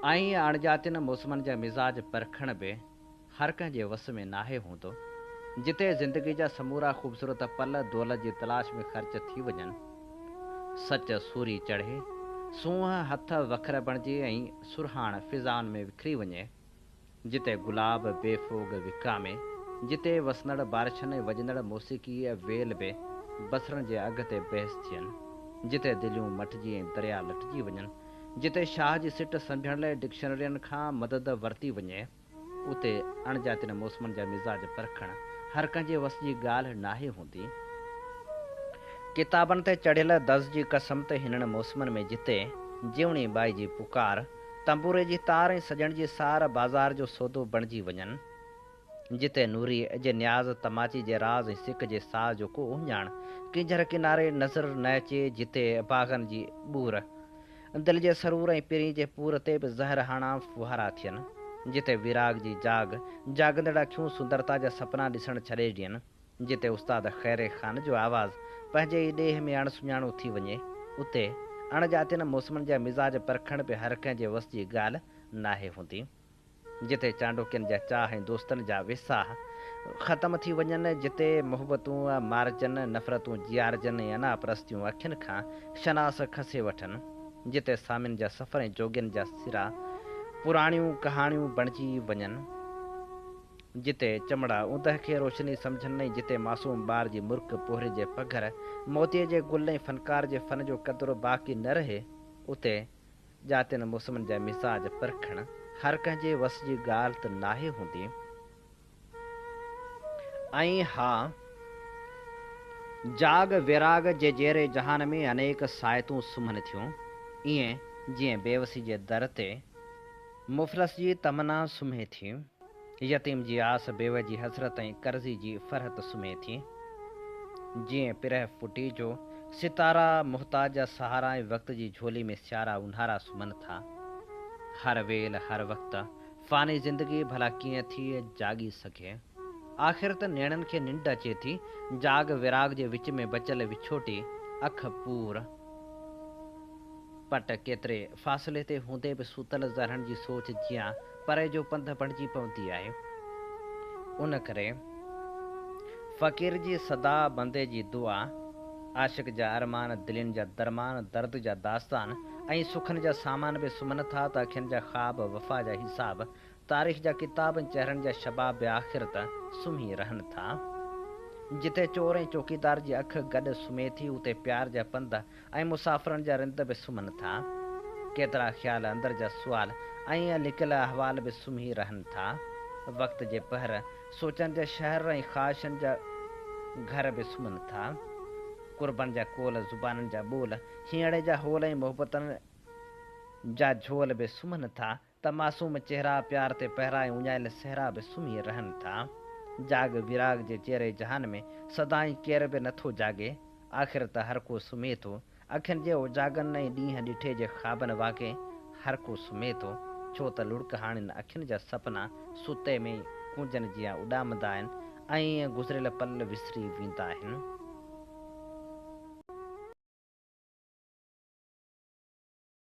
ائين اڻڄاتين موسمن جا مزاج پرکڻ به هر ڪنهن جي وس ۾ ناهي هوندو. جتي زندگي جا سمورا خوبصورت پل دولت جي تلاش ۾ خرچ ٿي وڃن، سچ سوري چڙهي، سونهن هٿ وکر بڻجي ۽ سرهاڻ فضائن ۾ وکري وڃي، جتي گلاب بي ڦوڳ وڪرامي، جتي وسندڙ بارشن ۽ وڄندڙ موسيقيء ويل به بصرن جي اگهه تي بحث ٿين، جتي دليون مٽجي ۽ دريا لٽجي وڃن، جتي شاهه جي سٽ سنڀيڻ لاء ڊڪشنرين کان مدد ورتي وڃي، اتي اڻڄاتين موسمن جا مزاج پرکڻ هر ڪنهن جي وس جي ڳالهه ناهي هوندي. ڪتابن تي چڙهيل دز جي قسم ته هنن موسمن ۾ جتي جيوڻي ٻائي جي پڪار، تنبوري جي تار ۽ سڄڻ جي سار بازار جو سودو بڻجي وڃن. جتي نوري جي نياز تماچي جي راز ۽ سڪ جي ساز جو ڪو اهڃاڻ ڪينجهر ڪناري نظر نه اچي جتي باغن جي ٻور دل جي سرور ۽ پرين جي پور تي به زهر هاڻا ڦوهارا ٿين جتي ويراڳ جي جاڳ جاڳندڙ اکيون سندرتا جا سپنا ڏسڻ ڇڏي ڏين. جتي استاد خيري خان جو آواز پنهنجي ئي ڏيهه ۾ اڻ سڃاڻو ٿي وڃي، اتي اڻ ڄاتين موسمن جا مزاج پرکڻ به هر ڪنهن جي وس جي ڳالهه ناهي هوندي. جتي چانڊوڪين جا چاهه ۽ دوستن جا ويساهه ختم ٿي وڃن، جتي محبتون مارجن، نفرتون جيارجن ۽ انا پرستيون اکين کان شناس کسي وٺن، جتي سامين جا سفر ۽ جوڳين جا سرا پراڻيون ڪهاڻيون بڻجي وڃن. جتي چمڙا اوندهه کي روشني سمجهن ۽ جتي معصوم ٻار جي مرڪ، پوهري جي پگهر، موتيء جي گل ۽ فنڪار جي فن جو قدر باقي نه رهي، اتي جاتين موسمن جا مزاج پرکڻ هر ڪنهن جي وس جي ڳالهه ته ناهي هوندي. ۽ ها! جاڳ ويراڳ جي جيئري جهان ۾ انيڪ ساعتون سمهن ٿيون، ائين جيئن بيوسي جي در تي مفلس جي تمنا سمهي ٿي. يتيم جي آس بيوه جي حسرت ۽ قرضي جي فرحت سمهي ٿي. جيئن پرهه پٽي جو ستارا محتاج جا سهارا ۽ وقت جي جهولي ۾ سيارا اونهارا سمهن ٿا. هر ويل هر وقت فاني زندگي ڀلا ڪيئن ٿي جاڳي سگهي. آخر ته نيڻن کي ننڊ اچي ٿي. جاڳ وراڳ جي وچ ۾ بچيل وڇوٽي اک پور پٽ ڪيتري فاصلي تي هوندي به ستل ذرهن جي سوچ جيان پري جو پنڌ بڻجي پوندي آهي. ان ڪري فقير جي صدا، بندي جي دعا، عاشق جا ارمان، دلين جا درمان، درد جا داستان ۽ سکن جا سامان به سمهن ٿا ته اکين جا خواب، وفا جا حساب، تاريخ جا ڪتاب ۽ چهرن جا شباب به آخر ته سمهي رهن ٿا. جتي چور ۽ چوڪيدار جي اک گڏ سمهي ٿي اتي پيار جا پنڌ، ۽ مسافرن جا رند به سمهن ٿا. ڪيترا خيال، اندر جا سوال ۽ لڪيل احوال به سمهي رهن ٿا. وقت جي پهر، سوچن جا شهر ۽ خواهشن جا گهر به سمهن ٿا. قربن جا قول، زبانن جا ٻول، هينئڙي جا هول ۽ محبتن جا جهول به سمهن ٿا. ته معصوم چهرا پيار تي پهرائي اڃايل صحرا به سمهي رهن ٿا. جاڳ ويراڳ جي چيري جهان ۾ سدائين ڪير به نه ٿو جاڳي. آخر ته هر ڪو سمهي ٿو. اکين جي اوجاڳن ۽ ڏينهن ڏٺي جي خوابن واڪي هر ڪو سمهي ٿو. ڇو ته لڙڪهاڻين اکين جا سپنا ستي ۾ ئي ڪونجن جيان اڏامندا آهن ۽ ائين گذريل پل وسري ويندا آهن.